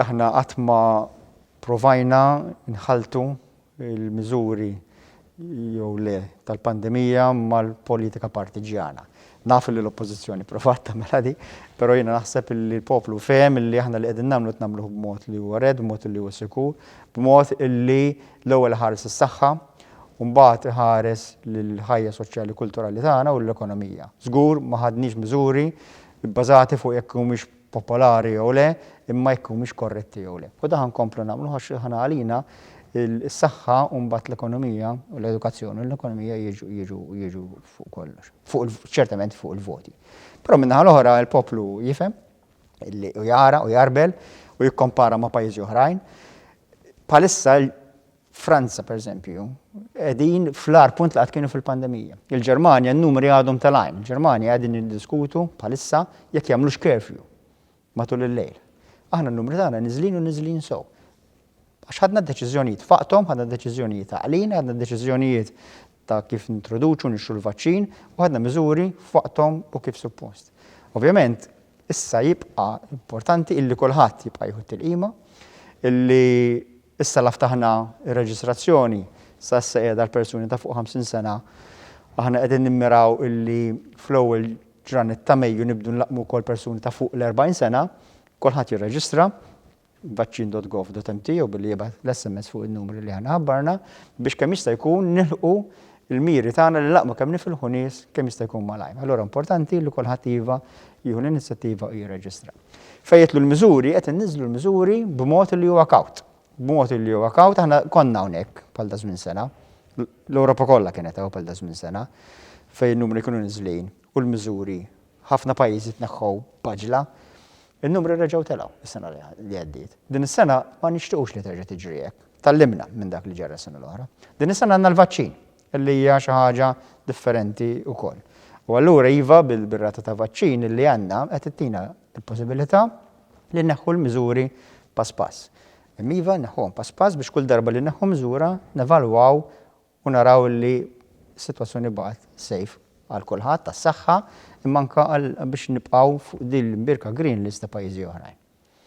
Aħna qatt ma provajna nħalltu l-miżuri jew le tal-pandemija mal-politika partiġġjana. Naf li l-Oppożizzjoni provat tagħmilha di, però jiena naħseb li l-poplu fehem li aħna li qegħdin nagħmlu qed nagħmluh b'mod li huwa red, b'mod li huwa sikur, b'mod li l-ewwel iħares is-saħħa u mbagħad iħares lill-ħajja soċjali kulturali tagħna u l-ekonomija. Żgur ma ħadniex miżuri bbażati fuq jekk humiex popolari jew le, imma jekk humiex korretti jew le. U dan ħa nkomplu nagħmlu għax aħna għalina is-saħħa u mbagħad l-ekonomija u l-edukazzjoni u l-ekonomija jiġu jiġu jiġu fuq kollox. Fuq il ċertament fuq il-voti. Però min-naħa l-oħra l-poplu jifhem li u jara u jgħarbel u jikkompara ma' pajjiżi oħrajn. Bħalissa Franza, per eżempju, edin fl-ar punt li għad kienu fil-pandemija. Il-Germania, n-numri għadhom tal-għajn. Il-Germania għadin il-diskutu bħalissa jekk jamlux kerfju matul il-lejl. Aħna n-numri tagħna nizlin u nizlin sow. Għax ħadna deċiżjonijiet faqtom, ħadna deċiżjonijiet għalina, ħadna deċiżjonijiet ta' kif nintroduċu nixxu l-vaċċin u ħadna miżuri faqtom u kif suppost. Ovvjament, issa jibqa' importanti illi kulħadd jibqa' jħu il-qima, illi Issa la ftaħna r-reġistrazzjoni, sa issa qiegħda għal persuni ta' fuq 50 sena. Aħna qegħdin nimmiraw illi fl-ewwel ġranet ta' Mejju nibdu nlaqqmu wkoll persuni ta' fuq l-40 sena. Kulħadd jirreġistra, vaccin.gov.mt jew billi jibgħat l-SMS fuq in-numri li aħna ħabbarna, biex kemm jista' jkun nilħqu l-miri tagħna li nlaqqmu kemm nifilħu nies kemm jista' jkun malajr. Allura importanti li kulħadd iva jieħu l-inizjattiva u jirreġistra. Fejn jitlu l-miżuri, qed inniżżlu l-miżuri b'mod li huwa kawt. B'mod li huwa kawt, aħna konna hawnhekk bħal ta' żmien sena, l-Ewropa kollha kienet hawn bħal ta' żmien sena, fejn in-numri kienu niżlin u l-miżuri ħafna pajjiżi tneħħew b'għaġla. In-numri reġgħu telgħu s-sena li għaddiet. Din is-sena ma nixtiequx li terġa' tiġri hekk. Tgħallimna minn dak li ġara s-sena l-oħra. Din is-sena għandna l-vaċċin. li hija xi ħaġa differenti wkoll. U allura iva, bir-rata ta' vaċċin li għandna qed ittina l-possibilità li nneħħu l-miżuri pass pass. Imma iva, nneħħuhom pass pass biex kull darba li nneħħu miżura nevalwaw u naraw li s-sitwazzjoni baqgħet safe għal kulħadd, għas-saħħa, imma anke biex nibqgħu fuq din l-imbirka green list ta' pajjiżi oħrajn.